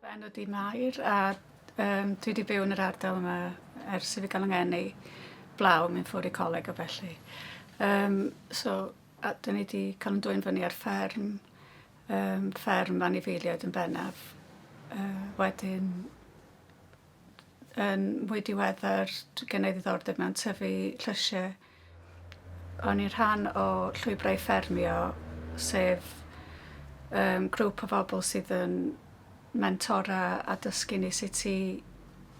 Fy enw ydi Mair a um, dwi wedi byw yn yr ardal yma ers i fi gael yng i blaw mynd ffwrdd i coleg o felly. Um, so, a dyn ni wedi cael yn dwy'n fyny ar fferm, um, fferm fan i feiliad yn bennaf. Uh, wedyn, yn mwy diweddar, gen i ddiddordeb mewn tyfu llysiau O'n i'n rhan o Llwybrau Ffermio sef yym grŵp o bobl sydd yn mentora a dysgu ni sut i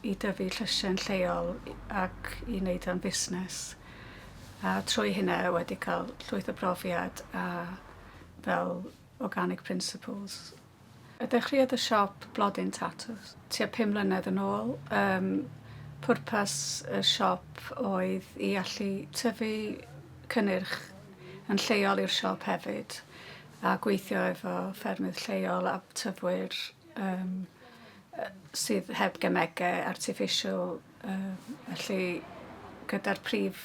i dyfu llysie yn lleol i- ac i neud o'n fusnes a trwy hynna wedi ca'l llwyth o brofiad a fel organic principles. A dechreuodd y siop Blodyn Tatws tua pum mlynedd yn ôl. Yym pwrpas y siop oedd i allu tyfu cynnyrch yn lleol i'r siop hefyd a gweithio efo ffermydd lleol a tyfwyr yym yy sydd heb gemege artiffisial. Yy felly gyda'r prif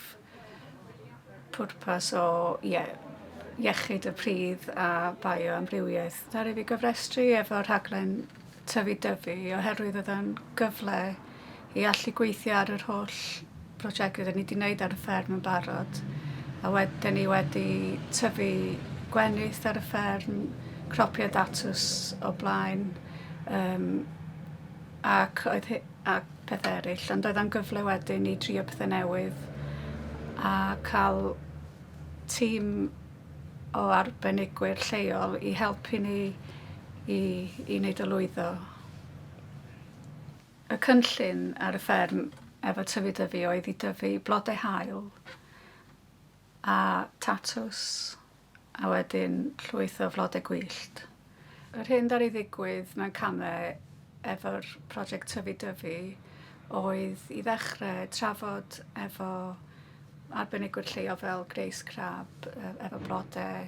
pwrpas o ie- iechyd y pridd a bioamrywiaeth ddaru fi gofrestru efo rhaglen Tyfu Dyfi oherwydd oedd o'n gyfle i allu gweithio ar yr holl brosiectau 'dyn ni 'di neud ar y fferm yn barod a wed- 'dyn ni wedi tyfu gwenith ar y fferm, cropio datws o blaen yym ac oedd hy- a pethau eraill ond oedd o'n gyfle wedyn i drio pethe newydd a ca'l tîm o arbenigwyr lleol i helpu ni i i neud o lwyddo. Y cynllun ar y fferm efo tyfu Dyfi oedd i dyfu blode haul A tatws, a wedyn llwyth o flodau gwyllt. Yr hyn ddaru ddigwydd mewn camau efo'r project Tyfu Dyfu oedd i ddechrau trafod efo arbenigwyr lleol fel Grace Crabb efo blodau.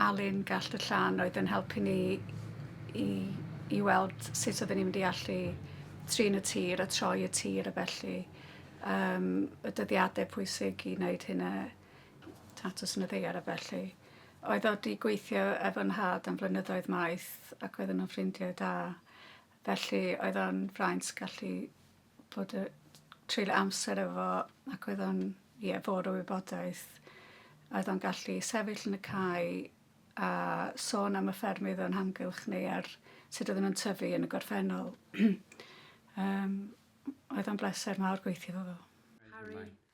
Alun Gallt y Llan oedd yn helpu ni i i weld sut oedden ni'n mynd i allu trin y tir a troi y tir a felly um, y dyddiadau pwysig i wneud hynna tatws yn y ddeiar a felly. Oedd o wedi gweithio efo nhad am flynyddoedd maith ac oedden nhw'n ffrindiau da. Felly oedd o'n fraint gallu bod y... treulio amser efo ac oedd o'n ie fôr o wybodaeth a oedd o'n gallu sefyll yn y cae a sôn am y ffermydd o'n hamgylch ni a'r sut oedden nhw'n tyfu yn y gorffennol yym oedd o'n bleser mawr gweithio efo fo. Harri.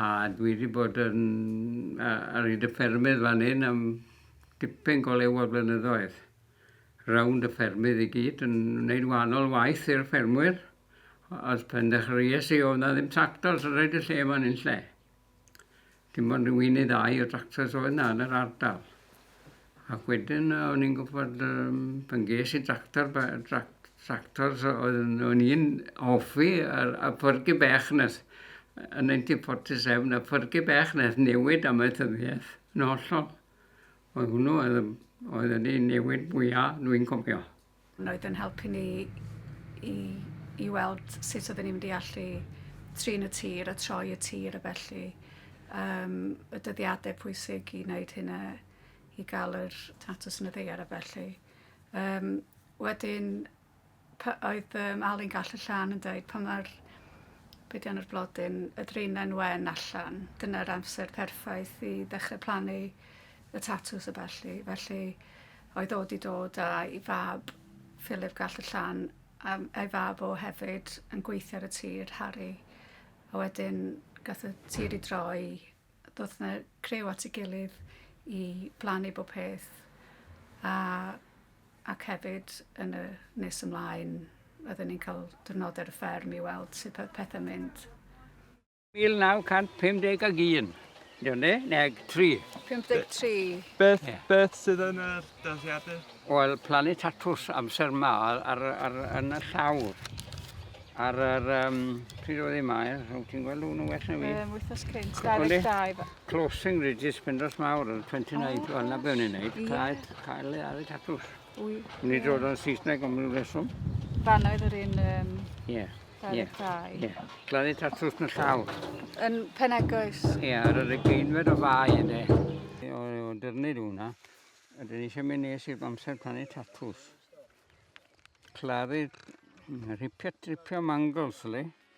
A dwi 'di bod yn yy ar hyd y ffermydd fan 'yn am dipyn go lew o flynyddoedd. Rownd y ffermydd i gyd yn neud wahanol waith i'r ffermwyr o- o'dd pendechrees i o'dd 'na ddim tractors yn roid y lle 'ma yn unlle. Dim ond ryw un neu ddau o tractors oedd 'na yn yr ardal. Ac wedyn yy o'n i'n gwbod yym pan ges i dractor ba- drac- tractor so oedd yn o'n i'n hoffi yr y pyrgu bech 'na s- yy yn ninety forty seven y pyrgu bech 'na ath newid amaethyddiaeth yn hollol. Oedd hwnnw oedd yym oedd wedi newid mwya dwi'n cofio. Mae oedd yn helpu ni i i weld sut oedden ni'n mynd i allu trin y tir a troi y tir a felly um, y dyddiadau pwysig i wneud hynna i gael yr tatws yn y ddeiar a felly. Um, wedyn, oedd um, Alun Gall y Llan yn dweud pan mae'r bedian o'r blodyn, y drinau'n wen allan, dyna'r amser perffaith i ddechrau plannu y tatws a felly. Felly, Oedd o 'di dod a'i fab, Philip Gall-y-llan, a a'i fab o hefyd, yn gweithio ar y tir, Harri. A wedyn gath y tir i droi, ddoth 'na criw at ei gilydd i blannu bob peth a ac hefyd yn y nes ymlaen oedden ni'n cael diwrnodau ar y fferm i weld sut oedd pethau'n mynd. 1951. Dio ne? Neg 3. 53. Beth, yeah. beth sydd yn yr dyddiadau? Wel, plannu tatws amser ma ar, ar, ar, yn y llawr. Ar yr... Um, pryd oedd ei maer? Rwy'n ti'n gweld hwnnw well na fi? Um, wythnos cynt, 22. Closing Regis Pendos Mawr, yr 29, oh, wel na be o'n i'n neud. Cael, cael ei tatws. Wy. Ni dod o'n Saesneg am ryw reswm. Fanna oedd yr un... Um, yeah. Yeah. Yeah. Gladdu tatws yn y llaw. Yn Penegoes. Ie, yeah, ar yr egeinfed o fai ynddo. O, o dyrnyd hwnna. Ydyn ni eisiau mynd nes i'r amser plannu tatws. Claddu rhipio tripio mangles, le?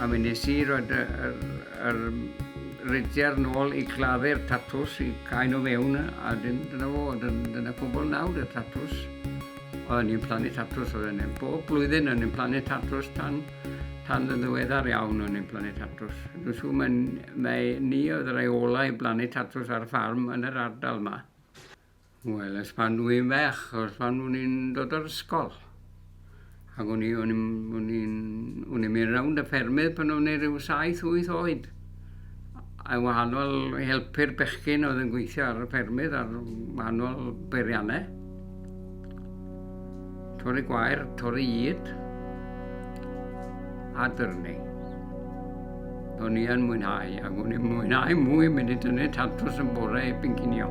A mi nes i roid y yr yr ridier nôl i gladdu'r tatws i cau nw fewn a 'dyn dyna fo dyn dyna cwbwl nawr y tatws. Oedden ni'n plannu tatws oedden ni bob blwyddyn o'n ni'n plannu tatws tan tan yn ddiweddar iawn o'n ni'n plannu tatws. Dwi'n siŵr mae'n mae ni oedd y rei ola i blannu tatws ar ffarm yn yr ardal 'ma. Wel, ers pan dw i'n fach, ers pan o'n i'n dod o'r ysgol. Ac o'n i'n o'n i'n o'n i'n mynd rownd y ffermydd pan o'n i ryw saith wyth oed a wahanol i helpu'r bechgyn oedd yn gweithio ar y ffermydd ar wahanol beirianne. Torri gwair, torri id a dyrnu. O'n i yn mwynhau, ac o'n i'n mwynhau mwy mynd i dynnu tatws yn bore i bincinio.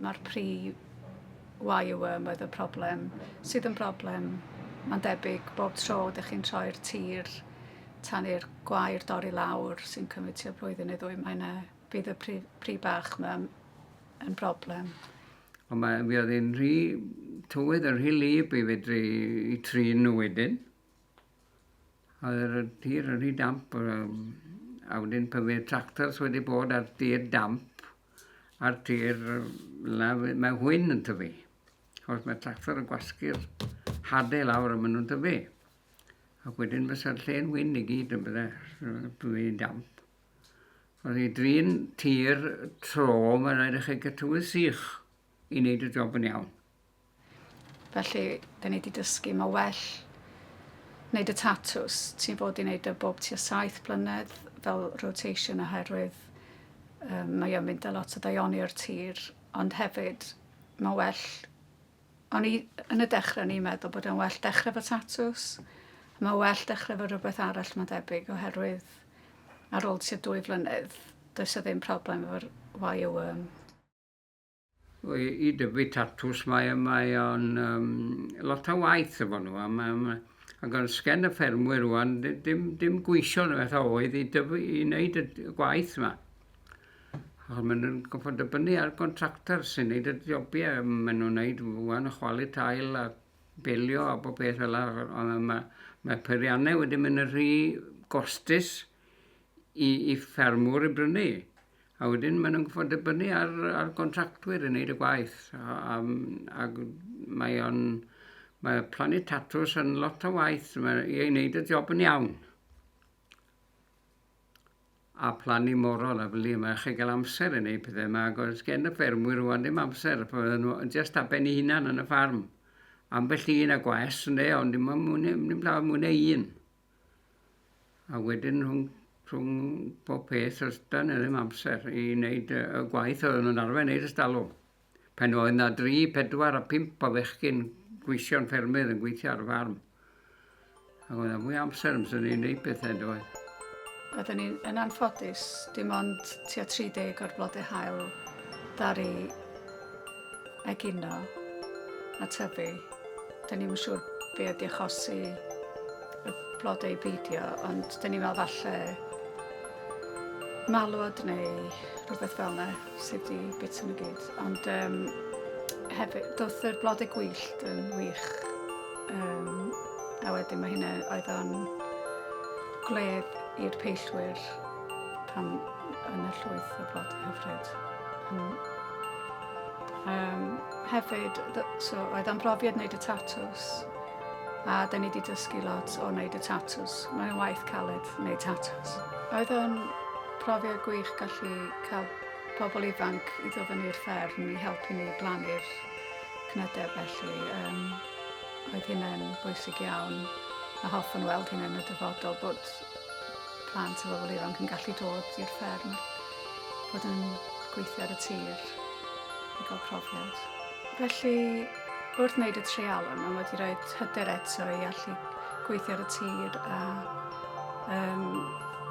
Mae'r pry YUM oedd y problem, sydd yn broblem mae'n debyg bob tro dych chi'n troi'r tir tan i'r gwair dorri lawr sy'n cymryd tua blwyddyn neu ddwy, mae yna, bydd y pry, pry bach yma yn broblem. Ond mae fi oedd yn rhy tywydd yn rhy lib i fedru i trin nhw wedyn. Oedd y tir yn rhy damp, a wedyn pan fydd tractors wedi bod ar tir damp, Ar tir lawr, mae hwyn yn tyfu. Os mae tractor yn gwasgu'r hadau lawr a maen nhw'n tyfu. Ac wedyn fysa'r lle'n hwyn i gyd yn bydde blwyddyn damp. Oedd ei drin tir tro, mae'n rhaid i chi gytywydd sych i wneud y job yn iawn. Felly, dyn ni 'di dysgu ma' well neud y tatws ti'n fod i neud e bob tua saith blynedd fel rotation oherwydd yym mae o'n mynd â lot o ddaioni o'r tir ond hefyd ma' well o'n i yn y dechre o'n i'n meddwl bod e'n well dechre 'fo tatws a ma' well dechre 'fo rwbeth arall ma'n debyg oherwydd ar ôl tua dwy flynedd does 'na ddim problem efo'r YOM. I, i dyfu tatws mae, mae o'n um, lot o waith efo nhw. Am, am, ac o'n sgen y ffermwyr rwan, dim, dim gweithio yn beth oedd i, dyfu, i wneud y gwaith yma. Achos maen nhw'n gofod dybynnu ar gontractor sy'n gwneud y jobiau. Maen nhw'n gwneud rwan chwalu tail a belio a bob beth fel yna. Ond mae, mae peiriannau wedi mynd yn rhy gostus i i ffermwr i brynu a wedyn maen nhw'n gorfod dibynnu ar ar gontractwyr i wneud y gwaith a a ag mae o'n mae plannu tatws yn lot o waith mae i ei wneud y job yn iawn a plannu morol a fili mae chi gael amser yn neud pethau yma ac oes gen y ffermwyr rwan ddim amser a fydden nhw jyst ar ben ei hunan yn y ffarm ambell un a gwaes ynde ond dim ond mwy ne' dim llawer mwy ne' un. a wedyn rhwng rhwng pob peth os da ni ddim amser i wneud y y gwaith oedden nhw'n arfer neud ers dalwm. Pan oedd 'na dri pedwar a pump o fechgyn gweision ffermydd yn gweithio ar y ffarm. Ac oedd 'na fwy amser amser ni'n neud pethau yndoedd? Oedden ni yn anffodus dim ond tua 30 o'r blodau haul ddaru egino a tyfu. Dyn ni'm yn siŵr be ydi achosi y blodau beidio, ond dyn ni'n meddwl falle malwod neu rhywbeth fel yna sydd wedi bita nhw gyd. Ond um, hefyd, doth yr blodau gwyllt yn wych. Um, a wedyn mae hynna oedd o'n gwledd i'r peillwyr Pan yn y llwyth y blod hyfryd. Um, hefyd, so, oedd am brofiad wneud y tatws a da ni wedi dysgu lot o wneud y tatws. Mae'n waith caled wneud tatws. Oedd o'n profiad gwych gallu cael pobl ifanc i ddod fyny i'r fferm i helpu ni blannu'r cnydau felly. Um, oedd hynny'n bwysig iawn a hoffwn weld hynny'n y dyfodol bod Plant a bobl ifanc yn gallu dod i'r fferm a bod yn gweithio ar y tir i gael profiad. Felly, wrth wneud y treialon, mae wedi rhoi hyder eto i allu gweithio ar y tir a um,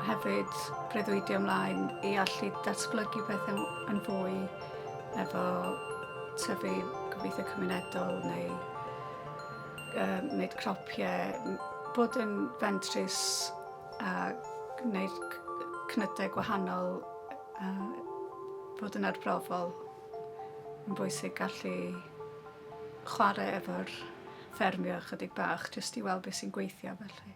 hefyd breuddwydio ymlaen i allu datblygu pethau yn fwy efo tyfu gobeithio cymunedol neu Yy wneud cnopiau, bod yn fentrus a gwneud c- c- cnydau gwahanol a bod yn arbrofol. Mae'n bwysig gallu chwarae efo'r ffermio ychydig bach jyst i weld beth sy'n gweithio felly.